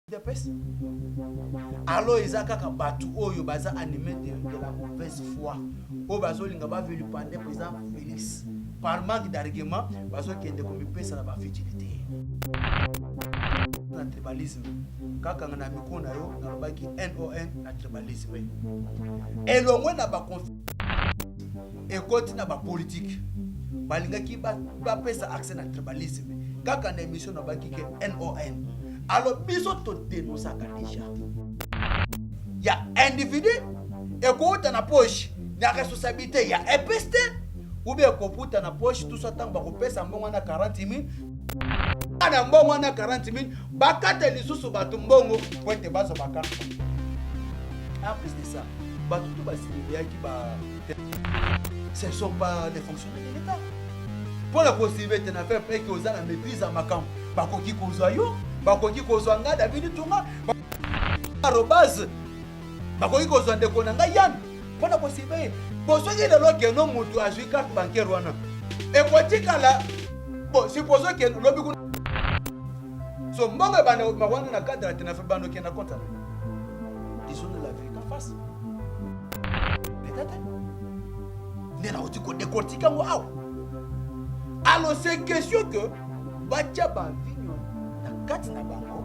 udps alors eza kaka bato oyo baza anime de, de la mauvaise foi oyo bazolinga bavilipande président félix par manque d'argument bazokende komipesa na bavigilité na tribalisme kaka na mikro na yo nalobaki non na tribalisme elongwe na baconfli ekoti na ba politique balingaki bapesa ba accès na tribalisme kaka na émission na baki ke non alors biso todenosaka deja ya individu ekouta na poche na responsabilité ya epeste oubien ekoputa na poche tusa ntango bakopesa mbongo na 40 000 na mbongo na 40 000 bakata lisusu bato mbongo mpo ete bazwa bakarte en plus de ça bato to basilibeyaki ba ce ne sont pas des fonctionnaires de l'État. Pour la possibilité de faire près que oza na maîtrise ya makambo bakoki kozwa yo bakoki kozwa ngai davidi tunga arobase bakoki kozwa ndeko na ngai yane mpo na kosibe bosoki lelo keno moto azwi carte bancaire wana ekotikala bo supposons ke lobi kuna so mbongo ebanda mawana na cadre ya tenafe bando kenda kontana disons la vie kafasi peut-être nde nauti kodekortike yango awa alors c'est question que batya bavinyo na kati na bango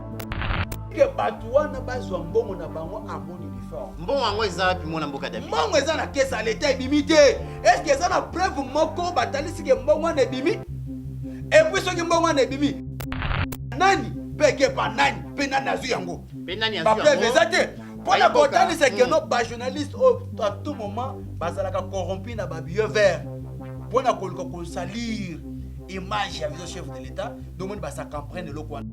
ke bato wana bazwa mbongo na bango amoni uniforme mbongo yango eza wapi mwana mboka david mbongo eza na kesi ya leta ebimi te eske eza na preuve moko batalisi ke mbongo wana ebimi epuis soki mbongo wana ebimi nani mpe ekepa nani mpe nani azwi yango mpe nani azwi yango bapreuve eza te mpo na kotalisa keno bajournaliste oyo à tout moment bazalaka corrompu na babieu vert mpo na koluka kosalire image ya viso chef de l'état domoni basa comprendre eloko wana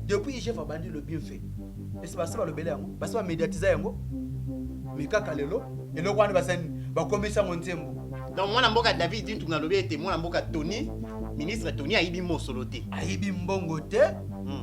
depuis igf abandi le bien fait esi basi balobela yango basi bamédiatisa yango me kaka lelo eloko wana basani bakomisi yango nzembo donc mwana mboka david dintunga alobi ete mwana mboka tony ministre tony ayibi mosolo te ayibi mbongo te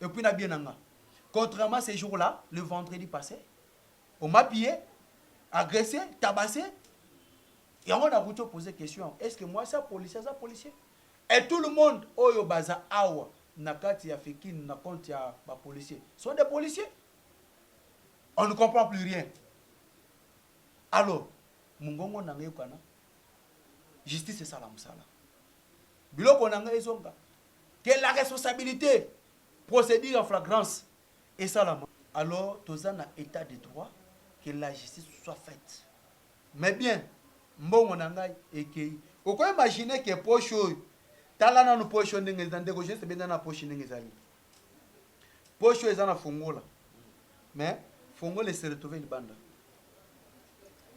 et puis na bien na nga contrairement ces jours là le vendredi passé on m'a pillé agressé tabassé yango nakuti opose question est ce que mwasi ya policier aza policier et tout le monde oyo baza awa na kati ya fikin na compte ya ba policier sont des policiers on ne comprend plus rien alors mongongo na nga eyokana justice esala mosala biloko na nga ezonga que la responsabilite procedure en flagrance esalama alors toza na etat de droit que la justice soit faite mais bien mbongo na ngai ekei oko imagine que poche oyo tala nanu poche oyo ndenge eza ndeko jeunesse benda na poche ndenge ezali poche oyo eza na fongola mais fongola ese retrouve libanda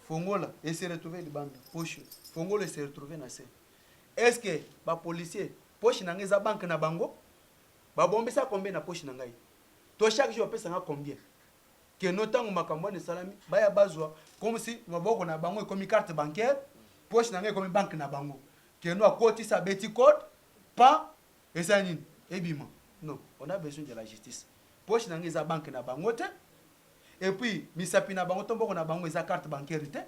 fongola ese retrouve libanda poche fongola ese retrouve na se Est ce que ba policiers poche na nga eza banque na bango? Ba bombisa combien na poche na ngai? To chaque jour bapesa nga combien? Que no tango makambo wana esalami baya bazwa comme si maboko na bango ekomi carte bancaire, poche na nga ekomi banque na bango. Que no akotisa abeti code, pa esali nini? Ebima. Non, on a besoin de la justice. Poche na nga eza banque na bango te. Et puis misapi na bango to mboko na bango eza carte bancaire te.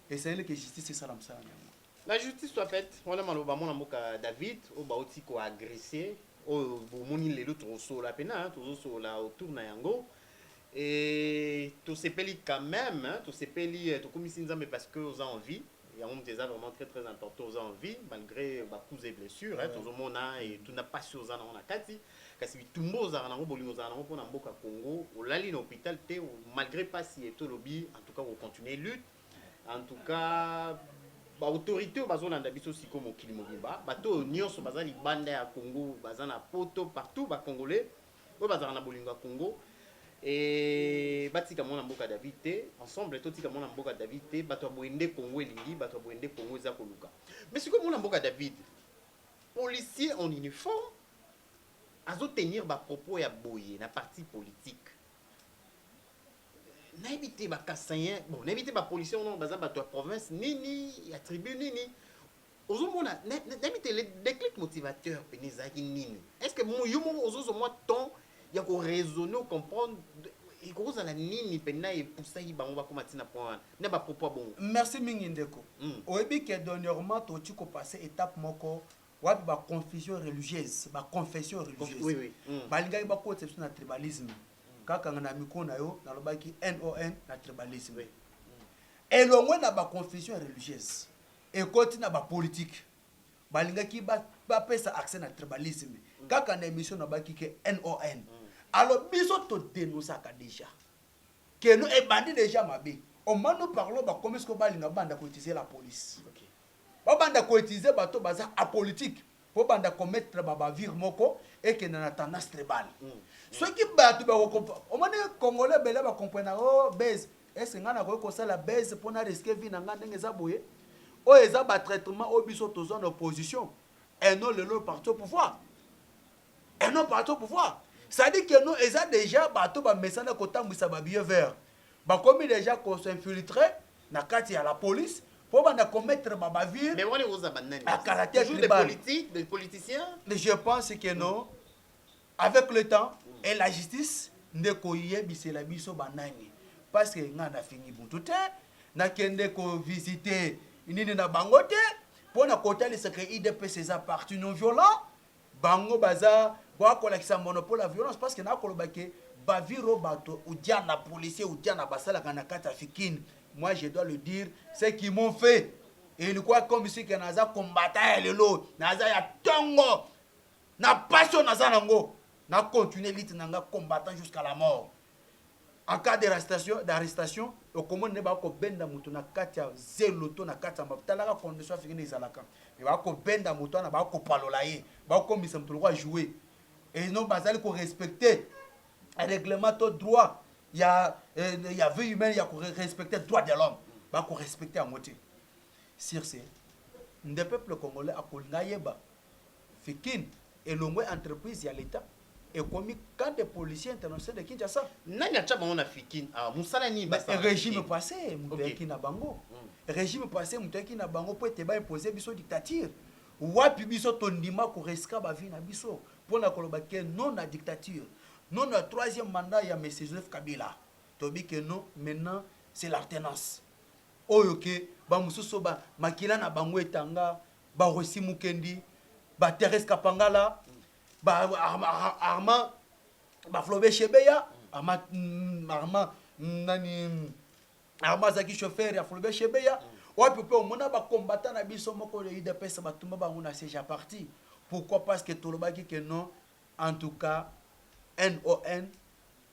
Esengeli que justice esala mosala na yango. La justice soit faite wana maloba mwana mboka David oyo bauti ko agresser oyo bomoni lelo tokosola pena tozosola autour na yango et tosepeli quand même tosepeli tokumisi nzambe parce que oza en vie yango moto eza vraiment très très important oza en vie malgré ba coups et blessures hein, tozomona et tuna pasi oza nango na kati kasi bitumba ozalaka nango bolingo ozalaka nango mpona mboka Congo olali na hôpital te malgré pasi et tolobi en tout cas ko continuer lutte En tout cas ba autorites bazolanda biso siko mokili mobimba bato oyo nyonso baza libanda ya Congo baza na poto partout ba congolais oyo bazalaka na bolingo ya Congo et batika mwana mboka David te ensemble totika mwana mboka David te bato ya boye nde Congo elingi bato ya boye nde Congo eza koluka mais sikoyo mwana mboka David policier en uniforme azo tenir ba propos ya boye na parti politique Nayebi te ba Kasaïens, bon nayebi te ba policiers wana baza bato ya province nini, ya tribu nini. Ozomona nayebi te le déclic motivateur pene ezalaki nini? Est-ce que yo moko ozozwa mwa temps ya ko raisonner ou comprendre ekozala nini mpena epusaki bango bakoma ntina na point wana na bapropos ya bongo merci mingi ndeko mm. oyebi ke dernièrement toci kopase étape moko Wapi ba confusion religieuse, ba confession religieuse? Balingaki bakotisa biso na tribalisme. Kaka na micro na yo nalobaki NON na tribalisme. Elongwe na ba confusion religieuse, ekoti na ba politique. Balingaki bapesa accès na tribalisme. Kaka na emission nalobaki ke NON. Alors biso to denonsaka dejà. Keno ebandi dejà mabe. Au moment nous parlons bakomi sikoyo balinga banda ko utiliser la police. Ba banda ko utiliser bato baza apolitique po banda commettre ba bavures moko ekenda na tendance tribale. Soki bato ba ko compr. Omoni congolais ebele ba comprenaka oh buzz est ce que nga nakoki kosala buzz po na risquer vie na nga ndenge eza boye? Oyo eza ba traitement oyo biso tozua na opposition et non lelo parti au pouvoir. et non parti au pouvoir ça dit que non eza dejà bato ba mesana ko tambwisa ba vieux vert ba komi dejà ko s'infiltre na kati ya la police po banda ko mettre ba bavure Mais wana ekoza ba nani? à caractère Toujours des tribal politiques, des politiciens? mais je pense que non avec le temps et la justice nde ko yebisela biso ba nani parce que nga na fingi mutu te na kende ko visiter nini na bango te pona ko talisa que idps eza parti non violent Bango baza Boa kolakisa monopole ya violence parce que nakoloba que ba vire oyo bato uja na policier uja na basalaka na kati ya fikin moi je dois le dire ce qui m'ont fait ilikuwa comme si que naza combattant ya lelo naza ya tongo na passion naza nango na continuer lite na nga combattant jusqu'à la mort En cas d'arrestation, okomona nde bakobenda moto na kati ya zelo to na kati ya mafuta. Talaka condition ya fingine ezalaka. Mais bakobenda moto wana, bakopalola ye, bakomisa moto lokola jouer. Et non bazali ko respecter règlement to droit ya eh, ya vie humaine ya ko respecter droit de l'homme. Bako respecter yango te. Sur ce, nde peuple congolais akolinga yeba Fikin elongwe entreprise ya l'etat ekomi camp de policiers internationaux de Kinshasa. Nani atia bango na Fikin awa? Musala nini basala na Fikin? Regime passe mutu okay. ayaki na bango. Mm. Regime passe mutu ayaki na bango po ete ba imposer biso dictature. Wapi biso tondima ko risquer ba vie na biso pona koloba ke non na dictature. Non na troisième mandat ya Monsieur Joseph Kabila. Tobi ke non maintenant c'est l'alternance. Oyo ke ba mususu ba makila na bango etanga ba Rossy Mukendi, ba Therese Kapangala, ba Armand, ba Flobe Shebeya, Armand, mm, Armand, mm, nani, mm, Armand azalaki chauffeur ya Flobe Shebeya, wapi mpe omona ba combattant na biso moko ya UDPS batumba bango na siège ya parti. Pourquoi? Parce que tolobaki que non, En tout cas NON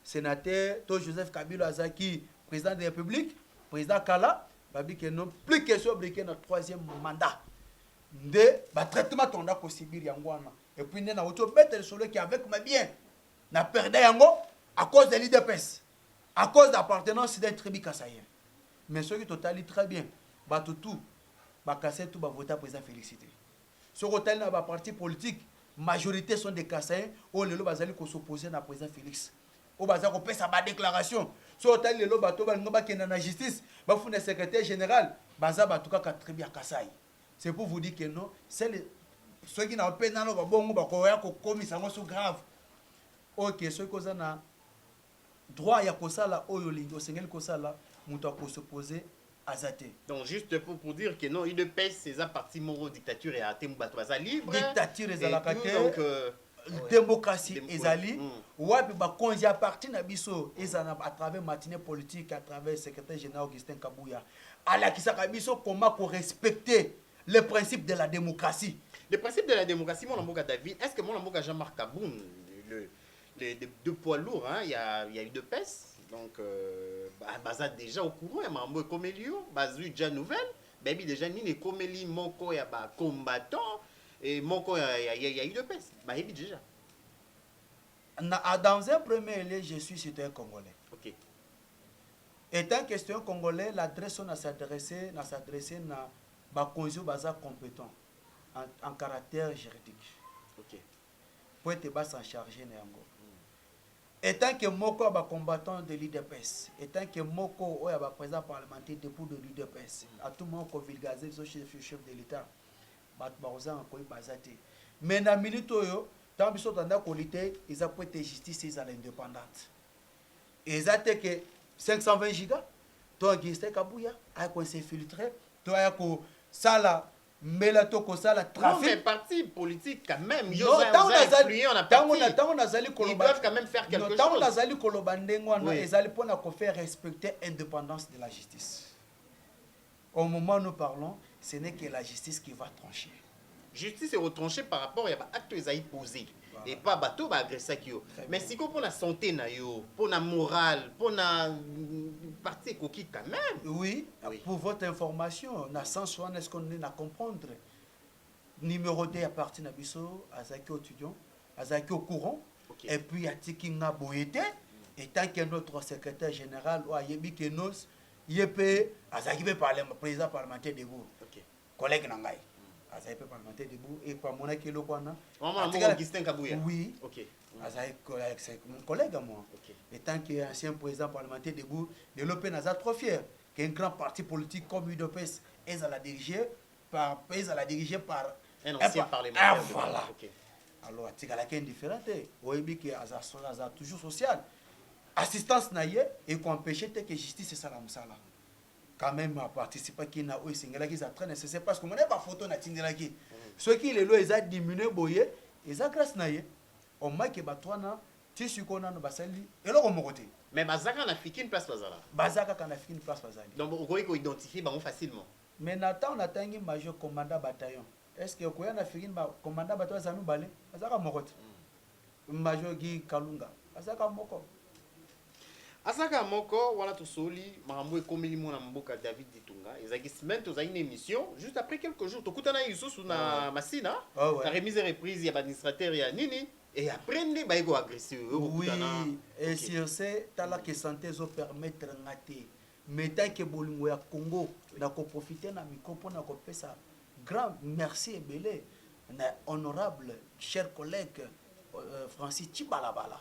senateur to Joseph Kabila azaki president de republique president kala babi que non plus question briquet na troisième mandat nde ba traitement tonda ko subir yango wana et puis nde na wuti obeta lisolo ki avec ma bien na perda yango à cause de l'IDPS à cause d'appartenance d'un tribu kasaïen mais soki totali très bien bato tout bakasai tout bavota président félicité Soki otali na ba partis politiques, majorite sont des Kasaïens oyo lelo bazali ko s'opposer na President Felix, oyo baza kopesa ba declarations. Soki otali lelo bato oyo balingi bakenda na justice, bafunda Secretaire general, baza bato kaka tribu ya Kasaï. C'est pour vous dire que non, seul soki na pe naloba bongo bakoya kokomisa yango sous grave. Ok, soki oza na. Droit ya kosala oyo olingi, osengeli kosala, mutu ako se poser aza te. Donc juste pour pour dire que non udps eza parti moko dictature ya te batu baza libre dictature ezalaka te donc euh, democratie Dem ezali mm. wapi bakonzi ya parti na biso ezala à travers matinée politique à travers secrétaire général Augustin Kabuya alakisaka biso comment ko respecter le principe de la démocratie le principe de la démocratie mwana mboka David est-ce que mwana mboka Jean-Marc Kabund le de, de, de poids lourd hein, ya, ya udps donc euh, baza déjà au courant ya makambo ekomeli yo bazwi déjà nouvelle bayebi déjà nini ekomeli moko ya bacombattant e moko ya, ya, ya, ya udps bayebi déjà na, ah, dans un premier lieu je suis citoyen congolais okay. étant que citoyen congolais l'adresse na s'adresse na s'adresse na bakonzi oyo baza compétent en, en caractère juridique okay. mpo ete ba s'en charger na yango. Etant que moko ya ba combattants de l'udps, etant que moko oyo ya ba presidents parlementaires debout de l'udps, à tout moment ko vulgariser biso chez le chef de l'Etat, batu bakozanga koyeba baza te. Mais na minute oyo, tango biso tobanda ko lutter, eza mpo ete justice ezala independante. Eza te que 520 giga to Augustin Kabuya aya ko s'infiltrer to aya kosala mbela to kosala trafic. Non mais parti politique quand même yo za tango nazali tango na tango nazali koloba doivent quand même faire quelque chose. Tango nazali koloba ndenge wana ezali pona ko faire respecter indépendance de la justice. Au moment nous parlons, ce n'est que la justice qui va trancher. Justice est retranchée par rapport à ba actes ezali posés. epa bato ba agressaki yo mais siko mpo na sante na yo mpo na morale mpo na mm, parti ekoki quand même oui, oui pour votre information na sens wana est ce qu'on est na comprendre numéro 2 ya parti na biso azalaki étudiant azalaki au courant okay. et puis atiki nga boye te etant que notre secrétaire général oyo ayebi kenos ye mpe azalaki mpe président parlementaire debout collègue na ngai azali mpe parlementaire debout et kwa amonaki eloko wana Augustin Kabuya oui okay. Mm. azali mon collègue à moi okay. étant que ancien président parlementaire debout lelo mpe naza trop fier qu'un grand parti politique comme udps ezala dirigé par ezala dirigé par un ancien parlementaire ah, voilà okay. alors atikalaki indifférent te oyebi ke aza, aza toujours social assistance na ye ekoempêche te ke justice esala mosala quand meme a participaki na oyo esengelaki eza très nécessaire parce que mona ba photo na tindelaki soki lelo eza diminue boye eza grâce na ye au moins que bato wana ti sikoyo nano basali eloko moko te mais baza kaka na fikine place bazala baza kaka na fikine place bazali donc okoki ko identifier bango facilement mais na temps natangi major commandant bataillon Est ce que okoya na fikin ba commandant bato baza mibale azalaka moko te major Guy kalunga azalaka moko azalaka moko wana tosoli makambo ekomeli mwana mboka David Ditunga ezalaki semaine tozalaki na emission juste après quelques jours tokutana lisusu na ah Masina ah ouais. na remise et reprise ya ba administrateur ya nini et après nde baye ko agresser yo oui et sur ce tala que santé ezo permettre nga te Meta que bolingo ya Congo na ko profiter na micro pona ko pesa grand merci ebele na honorable cher collègue Francis Tshibalabala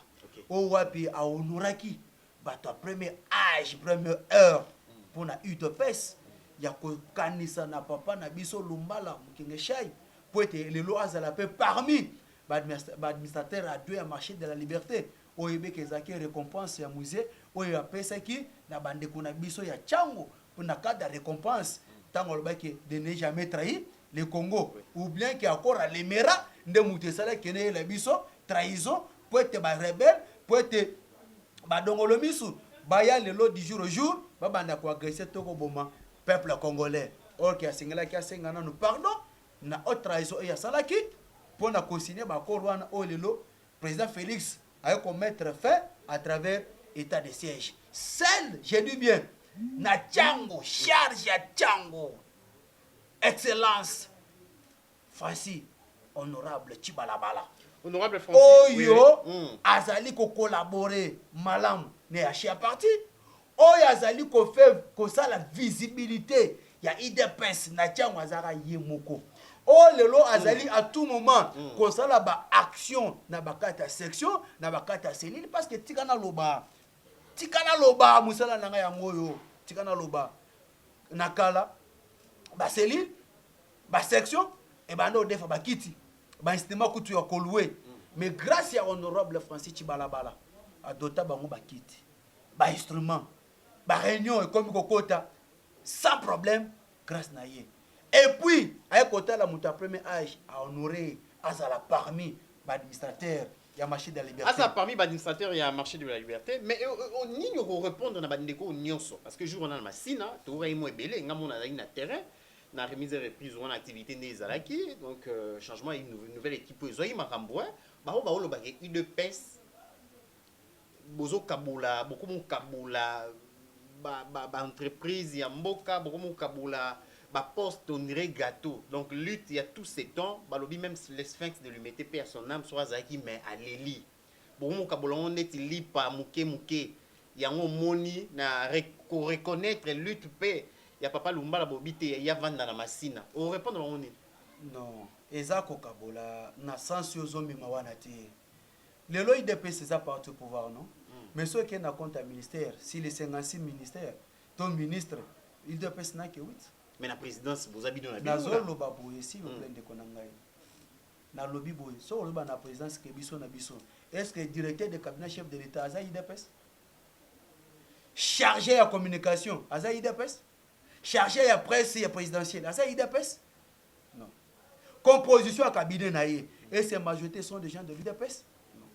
oyo wapi a honoraki bato ya premier age premier heure pona udps ya ko kanisa na papa na biso Lumbala Mukengeshai po ete lelo azala pe parmi ba administrateur ya deux ya marche de la liberte Oyebeke ezalaki recompense ya musee oyo apesaki na ba ndeko na biso ya tshango na cadre ya recompense tango alobaki ke de ne jamais trahi le Congo ou bien ke accord ya lemera nde mutu esalaki ke nayela biso trahison po ete ba rebelle po ete ba dongolo misu baya lelo du jour au jour babanda ko agresser to koboma peuple congolais or ke asengelaki asenga nanu pardon na haute trahison oyo asalaki pona ko signer ba accord wana oyo lelo President Felix aye ko mettre fin à travers etat de siège. Seul, je dis bien, na tshango charge ya tshango excellence Fasthi honorable Tshibalabala Honorable Francis, oui, oyo oui. Mm. azali ko collaborer malamu na ya Share Party Oyo azali ko faire kosala visibilite ya udps na tshiangu azalaka ye moko oyo lelo azali a tout moment kosala ba action na ba kati ya section na ba kati ya cellule parce que tika naloba tika naloba musala na ngai yango oyo tika naloba na kala ba cellule ba section ebanda odefa ba kiti ba instrument kutu ya ko louer mais grace ya honorable Francis Tshibalabala adota bango ba kiti ba instruments ba reunion ekomi kokota sans problème grace na ye et puis aye kotala moto ya premier age a honore azala parmi ba administrateur ya marché de la liberté aza parmi ba administrateur ya marché de la liberté mais euh, euh, oh, nini okorepondre na bandeko oyo nyonso parce que jour wana na masina toyokaki mwa ebele nga mona azalaki na terrain na remise et reprise wana activité nde ezalaki donc euh, changement ya nouvelle équipe oyo ezwaki makambo eh. bango baolobaka udps Bozo kabola bokomi kokabola ba entreprise ya mboka bokomi kokabola ba poste on dirait gateau donc lutte ya tout ce temps balobi meme le sphinx ne lui mettait paix à son ame soki azalaki mais aleli bokomi kokabola yango neti lipa muke muke yango omoni na ko reconnaitre lutte pe ya papa lumbala bolobi te ye avanda na masina o repondre bango nini? Non eza kokabola na sens oyo ozomema wana te. Lelo udps eza parti au pouvoir non? Mais soki ekei na compte ya ministère si les 56 ministère to ministre udps na kewit. Mais na presidence boza bino na bino na. Nazo loba boye s'il vous plait ndeko na ngai. Na lobi boye soki oloba na presidence ke biso na biso est ce que directeur de cabinet chef de l'etat aza udps? Charge ya communication aza udps? Charge ya presse ya presidentielle aza udps? Non. Composition ya cabinet na ye et ses majorités sont des gens de l'UDPS? Non.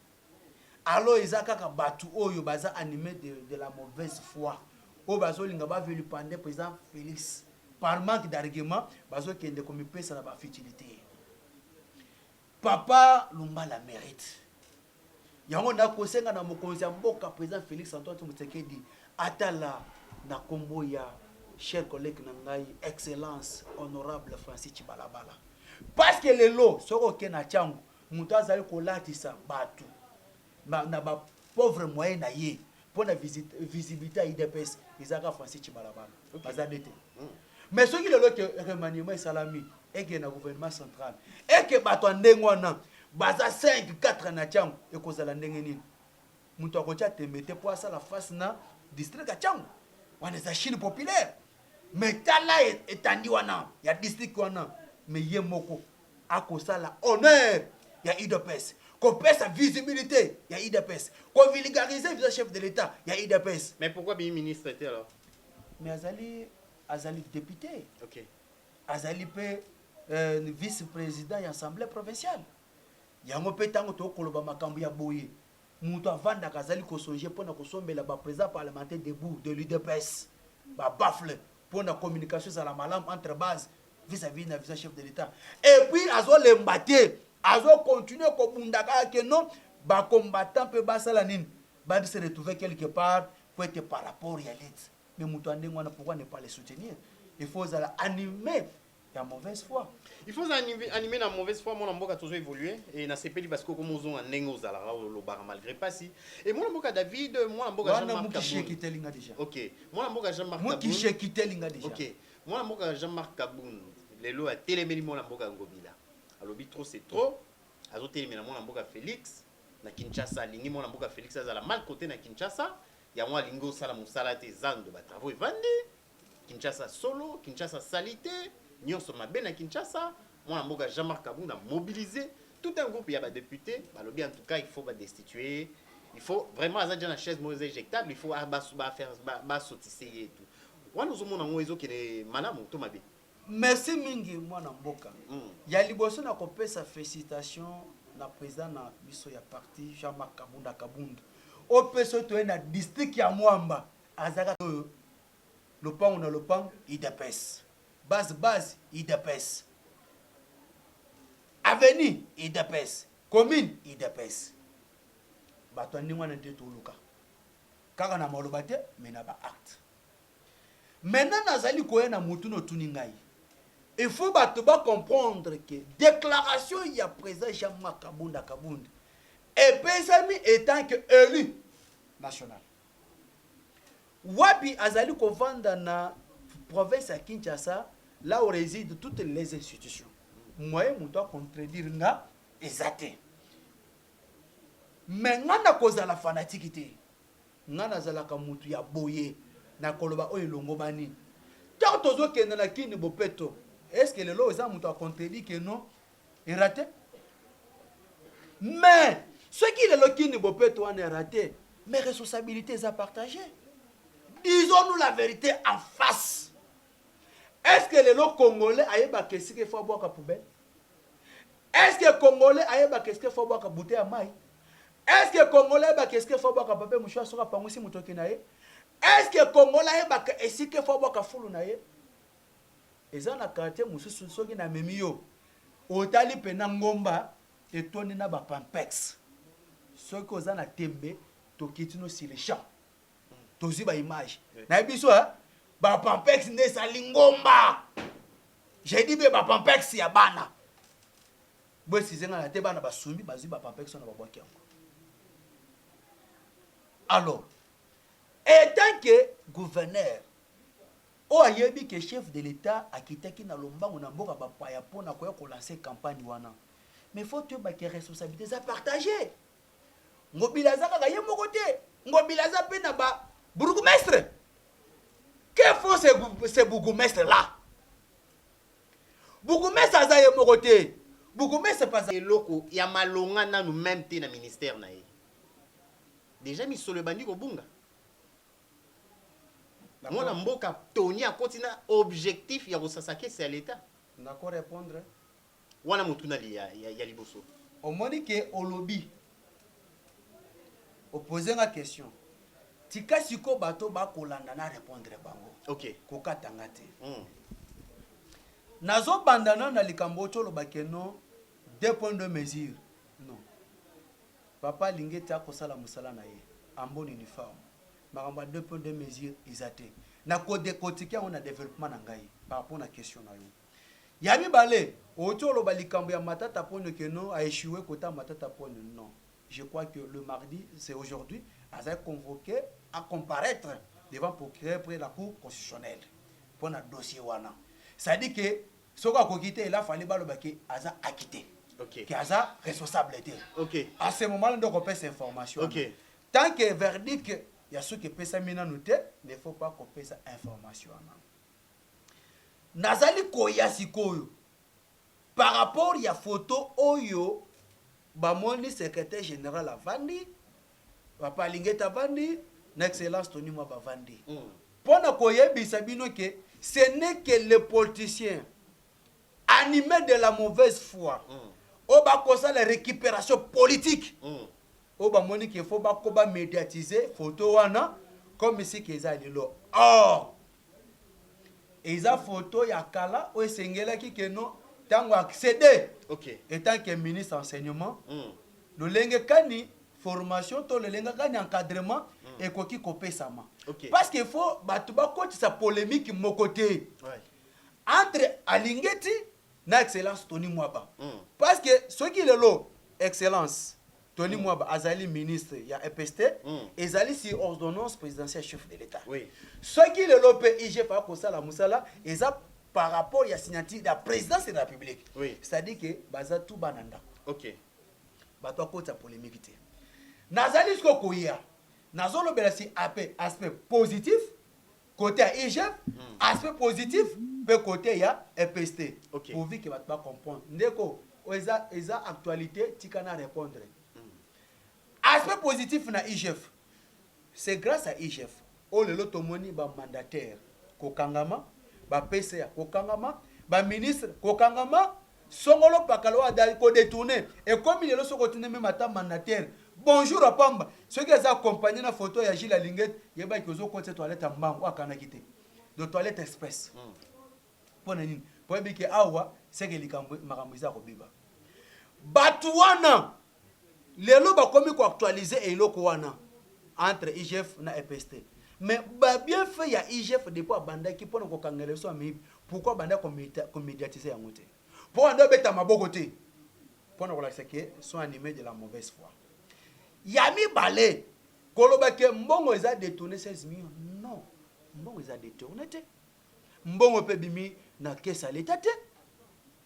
Alors eza kaka batu oyo baza anime de, de la mauvaise foi oyo bazolinga ba vilipande président Félix par manque d'argument bazokende komipesa na ba futilité. Papa lumbala merite yango na kosenga na mokonzi ya mboka president Felix Antoine Tshisekedi atala na kombo ya cher collègue na ngai excellence honorable Francis Tshibalabala parce que lelo soko ke na changu moto azali kolatisa batu na na ba pauvre moyen na ye mpo na visibilité ya udps eza kaka francis tshibalabala okay. baza nde te mm. mais soki lelo ke remaniement esalami eke na gouvernement central eke bato ya ndenge wana baza 5 4 na tiango ekozala ndenge nini moto akotya tembe te mpo asala face na district ya tiango wana eza chine populaire mais tala e, etandi wana ya district wana mais ye moko akosala honneur ya udps kopesa visibilité ya udps ko vulgariser visa chef de l'etat ya udps mais pourquoi bimi ministre te alors mais azali azali député okay. azali mpe euh, vice président ya assemblée provinciale yango mpe ntango tokoloba makambo ya boye Mutu avandaka azali ko songer pona ko sombela ba president parlementaire debout de l'udps ba baffle pona communication ezala malamu entre base vis à vis na visa chef de l'etat et puis azo lemba te azo continuer ko bunda kaka que non ba combattants pe ba sala nini ba se retrouver quelque part po ete par rapport ya lutte mais mutu ya ndenge wana pourquoi ne pas le soutenir il faut ozala anime ya mauvaise foi il faut animer na mauvaise foi mwana mboka tozo évoluer et na sepeli parce que comme ozonga ndenge ozalaka olobaka malgré pasi et mwana mboka David mwana mboka Jean Marc Mukishe kitelinga déjà OK mwana mboka Jean Marc Mukishe kitelinga déjà OK mwana mboka Jean Marc Kabund lelo ya telemeli mwana mboka Ngobila alobi trop c'est trop azo telemela mwana mboka Felix na Kinshasa alingi mwana mboka Felix azala mal côté na Kinshasa yango alingi osala mosala te zando ba travaux evandi Kinshasa solo, Kinshasa salite, nionso mabe na Kinshasa. Mwana mboka Jean Marc Kabund a mobilise tout un groupe ya ba deputes balobi en tout cas il faut ba destituer ye. Il faut vraiment aza déjà na chaise moko eza ejectable, il faut a ba ba faire ba, ba sotise ye tout. Wana ozomona yango ezokende malamu to mabe? Merci mingi mwana mboka. Mm. Ya liboso na kopesa felicitation na president na biso ya parti Jean-Marc Kabunda Kabund. Opeso toye na district ya Mwamba. Aza kaka oyo lopangu na lopangu udps base base udps avenue udps commune udps bato ya ndenge wana nde toluka kaka na maloba te me na baacte maintenant nazali koya na motu notuni ngai il faut bato bacomprendre ke déclaration ya président jean marc kabunda kabund epesami etant ke élu national Wapi azali kovanda na province ya Kinshasa là où réside toutes les institutions. Moyen moto a contredire nga eza te. Mais nga na kozala fanatique te. Nga nazalaka mutu ya boye na koloba oyo elongobani. Tant tozokende na Kin Bopeto, est-ce que lelo eza moto a contredire que non erate mais soki lelo kini bopeto wana erate mais responsabilité eza partage disons nous la vérité en face est ce que lelo congolais ayebaka esika efo abwaka poubelle est ce que congolais ayebaka esika efo abwaka bute ya mai est ce que congolais ayebaka esika efo abwaka pape mosho soki apangwisi motoki na ye est ce que congolais ayebaka esika efo abwaka fulu na ye Eza na quartier mususu soki na memi yo otali pena ngomba etondi na ba pampex soki oza na tembe tokiti no sur le champ tozui ba image naye biso hein ba pampex nde esali ngomba je dis bien ba pampex ya bana bo excuse nga na te bana basumbi bazui ba pampex wana babwaki yango alors etant que gouverneur Oyo ayebi que chef de l'etat akitaki na lombangu na mboka ba paya po na koya ko lancer campagne wana mais faut toyeba que responsabilite eza partage. Ngobila aza kaka ye moko te, Ngobila aza pe na ba bourgmestre. Que font ces, ces bourgmestre là? Bourgmestre aza ye moko te. Bourgmestre paza eloko ya malonga nanu meme te na ministère na ye. Dejà misolo ebandi kobunga. Na mwana mboka Tony akoti na objectif ya kosasa kese ya l'etat. Na ko repondre. Wana motuna ya liboso. Omoni que olobi. O poser nga question. Tika sikoyo bato oyo ba kolanda na repondre bango. Ok. Ko kata nga te. Hum. Nazo banda nanu na likambo oyo ti oloba que non deux points deux mesures. Non. Papa alingi ete akosala musala na ye en bonne uniforme. Makambo ya deux points deux mesures eza te. Na ko decotiquer yango na developpement na ngai par rapport na question na yo. Ya mibale, owuti oloba likambo ya Matata Ponyo que non a echoue kota Matata Ponyo. Non, je crois que le mardi, c'est aujourd'hui, azali convoque a comparaitre devant procureur près la cour constitutionnelle mpo na dossier wana. C'est à dire que soki akoki te ela fale baloba ke aza akite okay. ke aza responsable te okay. a ce moment nde okopesa information okay. tant que verdict ya suki epesami nanu te ne faut pas kopesa information wana nazali koya sikoyo par rapport ya foto oyo Bamoni secretaire general avandi, papa Alingeta avandi, na excellence Tony Mwaba avandi. Mpo na koyebisa bino que ce n'est que les politiciens animes de la mauvaise foi oyo bakosala recuperation politique oyo bamoni que faut bako ba mediatiser photo wana comme si que eza lelo. Or! Eza photo ya kala oyo esengelaki que no tango accede okay. etant que ministre ya enseignement mm. lolenge kani formation to lolenge kani encadrement mm. ekoki kopesama okay. parce que faut bato bakotisa polemique moko te ouais. entre alingeti na excellence toni mwaba mm. parce que soki lelo excellence Tony Mwaba azali ministre ya EPST, ezali sur ordonnance presidentielle ya chef de l'Etat. Soki lelo mpe IGF akosala mosala, eza par rapport ya signature ya Presidence de la Republique. C'est à dire que baza tout bana ndako. Bato bakotisa polemique te. Nazali sikoyo koya, nazolobela sur aspect positif, kote ya igf hmm. aspect positif mpe kote ya epst okay. pourvu ke bato bacomprendre ndeko oyo eza, eza actualité tika na répondre hmm. aspect positif na igf c'est grâce à igf oyo lelo tomoni bamandataire kokangama bapesa ya kokangama baministre kokangama Songolo pakala oyo ada ko detourne ekomi lelo soki otuni meme ata mandateur bonjour à pamba soki aza accompagne na photo ya Jules Alinget yeba ke ozo kotisa toilette ya mbangu oyo akanaki te donc toilette express pona nini po oyebi ke awa seke likambo makambo eza ya kobeba batu wana Lelo bakomi ko actualiser eloko wana entre IGF na EPST. Mais ba bien faits ya IGF depuis abandaki pona ko kangela biso ba miyibi pourquoi abanda ko mediatiser yango te? Po wana nde obeta maboko te pona kolakisa que sont animes de la mauvaise foi. Ya mibale, koloba que mbongo eza detourner 16 millions non mbongo eza detourner te. Mbongo pe ebimi na caisse ya l'etat te.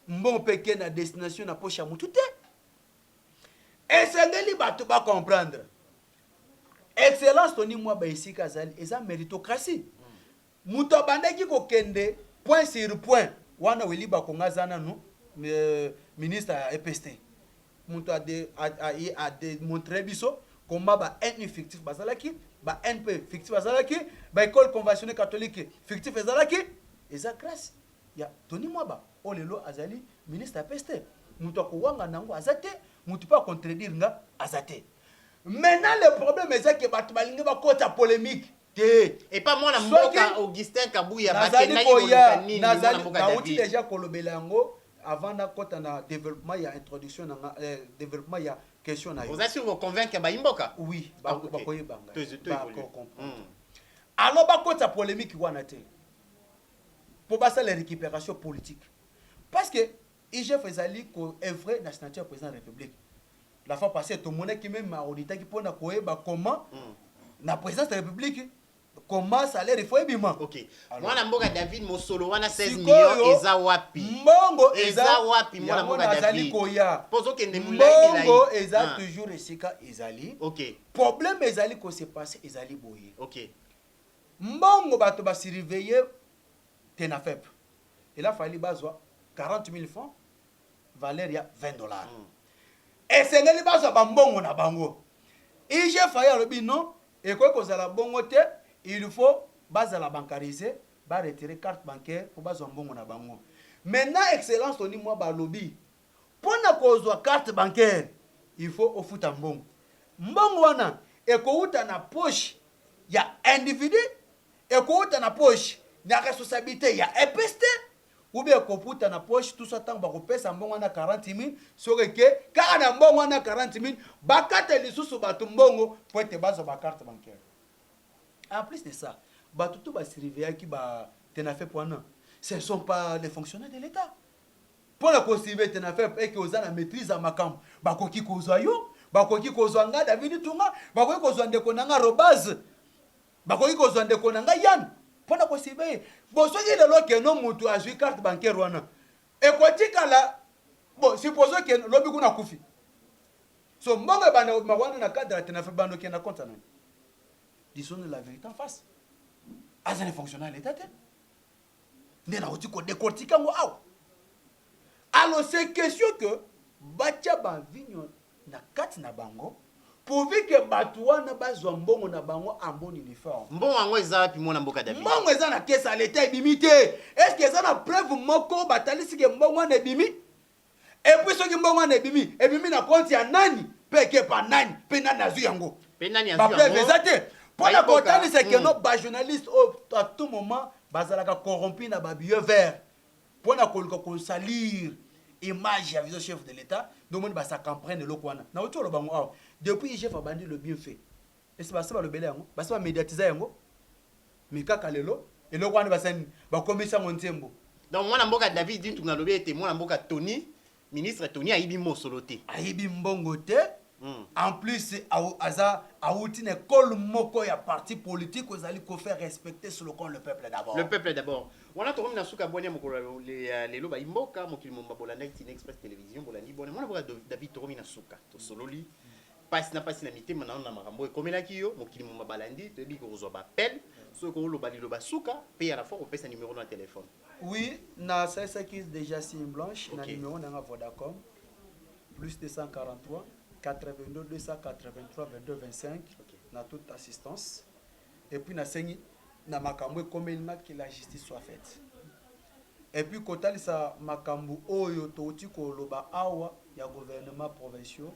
Mbongo pe eke na destination na poche ya mutu te. Esengeli bato ba comprendre excellence Tony Mwaba esika azali eza meritocratie. Moto abandaki kokende point sur point wana Willy Bakongo aza nanu euh, ministre ya EPST. Moto a, de, a, a, a demontre biso comment ba NU fictif bazalaki, ba NP fictif bazalaki, ba école conventionnelle catholique fictif ezalaki, eza grâce Ya Tony Mwaba oyo lelo azali ministre ya peste, mutu ako wangana yango aza te, mutu pe a contredire nga aza te. Maintenant le problème eza que batu balingi bakota polemique te. Epa mwana Soki mboka Augustin Kabuya nazali bakendaki koya, koluka nini mwana nazali, mboka nawuti David? dejà kolobela yango avant nakota na developpement ya introduction na nga, eh, developpement ya question na yo. Oza sur ko convaincre bayi mboka? Oui, Ah, bako, ok. bakoyeba ngai, To- to bako evolue. comprendre. Mm. Alors bakota polemique wana te. mpo basala recuperation politique parce que IGF ezali ko œuvrer na signature ya président de la République la fois passée tomonaki meme auditaki mpo na koyeba comment mm. na présidence de la République comment salaire faut ebima okay. mwana mboka david mosolo wana 16 million eza wapi mbongo eza wapi mwana mboka david koya pozokende mbongo eza ah. toujours esika ezali okay. problème ezali ko se passer ezali boye okay. Mbongo bato ba surveiller Tenafep ela fali bazwa 40.000 francs valeur ya 20 dollars. Esengeli bazwa ba mbongo na bango. IG Faye alobi non ekoki kozala bongo te il faut bazala bancarise ba retirer carte bancaire po bazwa mbongo na bango. Maintenant Excellence Tony Mwaba alobi. Pona kozwa carte bancaire il faut ofuta mbongo. Mbongo wana ekowuta na poche ya individu, ekowuta na poche na responsablite ya EPST ou bien ekowuta na poche tout ça tango bakopesa mbongo wana 40000 soki eke kaka na mbongo wana 40000 bakata lisusu batu mbongo po ete bazwa ba carte bancaire. En plus de ça, batu tout ba surveillaki ba tenafep wana ce ne sont pas les fonctionnaires de l'etat. Pona ko suivre ete na FEP eke oza na maitrise ya makambo, bakoki kozwa yo, bakoki kozwa nga David Itunga, bakoki kozwa ndeko na nga Robaz, bakoki kozwa ndeko na nga Yann pona ko suivre ye. Bon soki lelo keno mutu azwi carte bancaire wana ekotikala bon supposons que lobi kuna akufi. So mbongo ebanda kobima wana na cadre ya Tenafep bando kende na compte ya nani? Disons la verite en face. Aza na fonctionnaire ya l'etat te. nde nauti ko decortiquer yango awa. Alors c'est question que batia ba vinyo na kati na bango pourvu que bato wana bazwa mbongo na bango en bonne uniforme. Mbongo yango eza wapi mwana mboka David? Mbongo eza na caisse ya l'etat ebimi te. Est-ce que eza na preuve moko batalisi que mbongo wana ebimi? Et puis soki mbongo wana ebimi, ebimi na compte ya nani pe eke epa nani pe nani azwi yango? Pe nani azwi yango? Ba preuves eza te pona ko talisa que non ba journalistes oyo à tout moment ba zalaka corrompus na ba billets verts pona ko luka ko salir image ya vision chef de l'etat nde omoni ba circumprendre eloko wana. Nawuti ko loba yango awa depuis IGF abandi le bien fait. Esi basi balobela yango, basi ba mediatiza yango, mais kaka lelo eloko wana basali nini? Bakomisi yango nzembo. Donc mwana mboka David Dintu nalobi ete mwana mboka Tony, ministre Tony ayibi mosolo te. Ayibi mbongo te. Hmm. En plus aza awuti na ekole moko ya parti politique ozali ko faire respecter sur le compte le peuple d'abord. Le peuple d'abord. Wana tokomi na suka bwania mokolo ya lelo bayi mboka mokili momba bolandaki Kin Express Television bolandi bwania mwana mboka David tokomi na suka tosololi. pasi na pasi na mitema na yo na makambo oyo ekomelaki yo mokili moma balandi toyebi ke okozwa ba appel soki okoki oloba liloba suka pe ya la fois kopesa numero na telephone Oui, na salisaki dejà signe blanche na Ok. numero na nga Vodacom plus 243 82 283 22 25 Ok. na toute assistance. et puis na sengi na makambo ekomeli nga que la justice soit faite et puis kotalisa makambo oyo touti koloba awa ya gouvernement provinciaux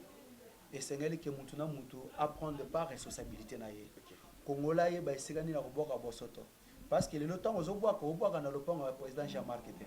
esengeli ke mutu na mutu aprendre par responsabilité na ye kongola ayeba esika nini akobwaka bosoto parce que lelo ntango ozobwaka obwaka na lopango ya président jean marc te